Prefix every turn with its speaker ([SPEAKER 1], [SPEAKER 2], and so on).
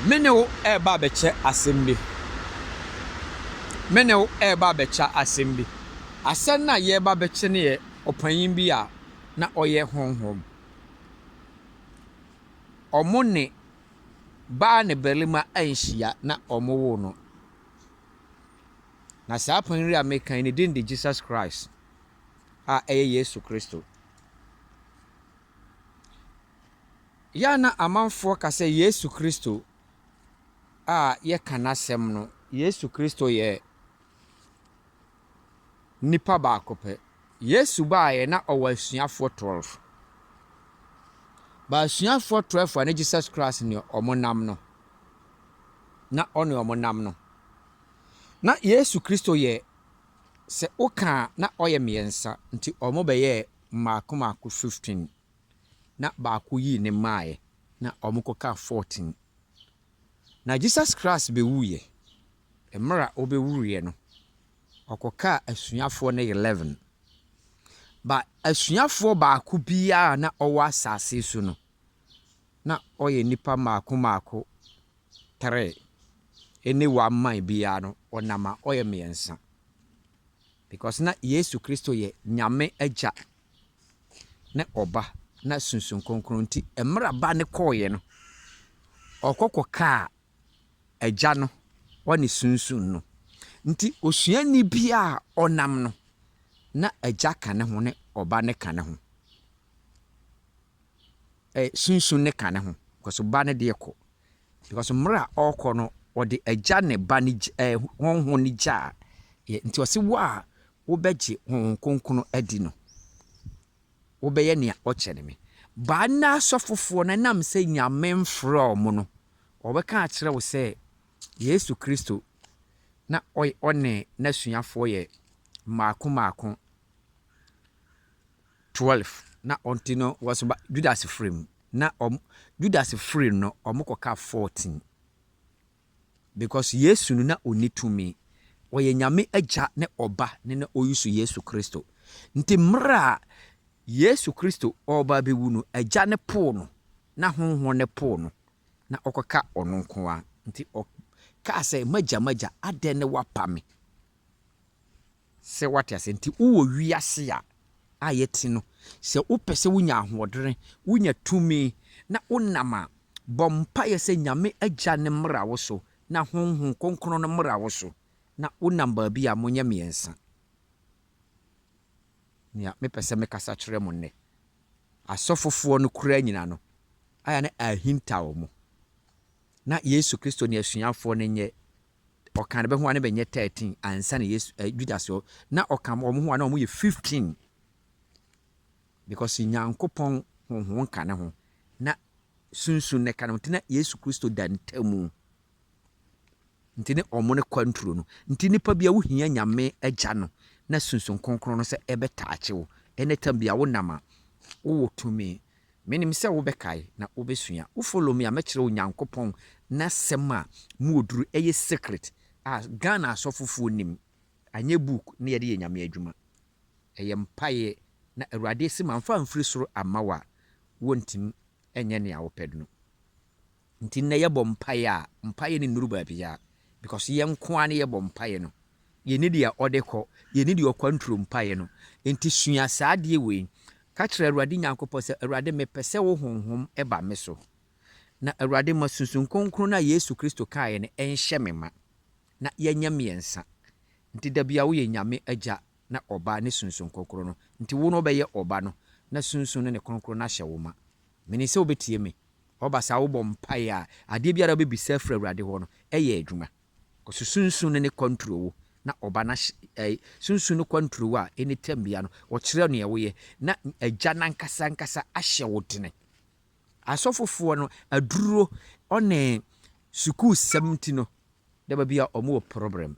[SPEAKER 1] Me ne wo reba abɛkyɛ asɛm bi. Me ne wo reba abɛkyɛ asɛm bi. Asɛm no a yɛreba abɛkyɛ no yɛ ɔpanyin bi a na ɔyɛ honhom. Wɔne baa ne barima anhyia na wɔwoo no. Na saa panyin yi a meka yi, ne din de Jesus Christ. a ɛyɛ Yesu Kristo. Yɛ a na amanfoɔ ka sɛ Yesu Kristo a yɛka n'asɛm no, Yesu Kristo yɛ nipa baako pɛ. Yesu baeɛ na ɔwɔ asuafoɔ 12. But asuafoɔ 12 a na Jesus Christ ne wɔn nam no, na ɔne wɔn nam no, na Yesu Kristo yɛ Sɛ woka a, na ɔyɛ mmiɛnsa, nti wɔn bɛyɛɛ mmaako mmaako fifteen, na baako yii ne mmaeɛ, na wɔn kɔkaa fourteen. Na Jesus Christ bɛwuiɛ, mmerɛ a ɔbɛwuruiɛ no, ɔkɔkaa asuafoɔ no eleven. But asuafoɔ baako biara a na ɔwɔ asaase so no, na ɔyɛ nnipa mmaako mmaako three, ɛne one man biara no ɔnam a ɔyɛ mmiɛnsa. Because na Yesu Kristo yɛ Nyame Agya ne Ɔba na Sunsum Kronkron nti mmerɛ Ba no kɔeɛ no ɔkɔ kɔkaa Agya no ɔne Sunsum no. Nti osuani biara a ɔnam no na Agya ka ne ho ne Ɔba no ka ne ho. eh, sunsun ne ka ne ho, because ba no deɛ kɔ. Because mmerɛ a ɔrekɔ no, ɔde agya ne ba no gya, eh, honhom no gyaa yɛ. Nti ɔse wo a wobɛgye honhom kronkron adi no, wobɛyɛ nea ɔkyɛ ne me. Ba nna asɔfofoɔ no ɛnam sɛ Nyame mfrɛ ɔmo no, wɔbɛka akyerɛ wo sɛ Yesu Kristo na ɔyɛ ɔne n'asuafoɔ yɛ mmaako mmaako. Twelf na ɔnti no wɔsoma Judas firi mu na ɔmo Judas firi no ɔmo kɔ ka fourteen because Yesu no na ɔni tumi ɔyɛ Nyame agya ne ɔba ne na ɔyusu Yesu Kristo nti mmerɛ a Yesu Kristo ɔɔba abɛwu no agya no poo no na honhon no poo no na ɔkɔ ka ɔno nkoa nti ɔ kaa sɛ magya magya adɛn ne wapa me. Sɛ woate aseɛ nti wowɔ wiase a a yɛte no sɛ wopɛ sɛ wonya ahoɔdere, wonya tumi na wonam a, bɔ mpaeɛ sɛ Nyame Agya no mmra wo so na Honhom Kronkron no mmra wo so na wonam baabi a monyɛ mmiɛnsa. Nea me pɛ sɛ me kasa kyerɛ mo nnɛ, asɔfofoɔ no koraa nyina no ayɛ na ahintaw mo na Yesu Kristo ne asuafoɔ no nyɛ Ɔkaa ne ba ho a na bɛnyɛ thirteen ansa na Yesu eh, Judas wɔ na ɔka wɔn ho a na wɔn yɛ fifteen because Nyankopɔn honhom nka ne ho na sunsun ne ka ne ho nti na Yesu Kristo da ntamu nti ne wɔn ne kwanturo no nti nipa bi a wohia Nyame agya no na sunsun kronkron no sɛ ɛbɛtaakye wo ɛnɛ tam bi a wonam a wowɔ tumi Menim sɛ wobɛkae na wobɛsua. Wo follow me a mɛkyerɛ wo Nyankopɔn n'asɛm a mu ɔduru ɛyɛ secret a Ghana asɔfofoɔ nnim. Anyɛ book na yɛde yɛ Nyame adwuma. Ɛyɛ mpaeɛ na Awurade se mamfa amfiri soro amma wo a wontimi nyɛ nea wopɛ no. Nti nnɛ yɛbɔ mpaeɛ a, mpaeɛ no nnuru baabiara because yɛn nko ara ne yɛbɔ mpaeɛ no. Yɛnni deɛ ɔde kɔ, yɛnni deɛ ɔkwanturo mpaeɛ no. Nti sua saa adeɛ wei. Ka kyerɛ Awurade Nyankopɔn sɛ, Awurade mepɛ sɛ wo Honhom ba me so. Na Awurade ma Sunsum Kronkron no a Yesu Kristo kaeɛ no nhyɛ me ma. Na yɛnyɛ mmiɛnsa. Nti da biara woyɛ Nyame Agya na Ɔba ne Sunsum Kronkron no. Nti wo no wobɛyɛ Ɔba no na Sunsum no ne Kronkron no ahyɛ wo ma. Menim sɛ wobɛtie me. Ɔba saa a, wobɔ mpaeɛ a, adeɛ biara a wobɛbisa afiri Awurade hɔ no yɛ adwuma. Ɔse Sunsum no ne kwanturowo, na Ɔba no ahye, ɛ, Sunsum no kwanturowo a ɛnni tɛnbea no, ɔkyerɛ neɛ woyɛ, na Agya no ankasa ankasa ahyɛ wo dene. Asɔfofoɔ no, aduro ɔne sukuusɛm nti no, daba bi a wɔn wɔ problem.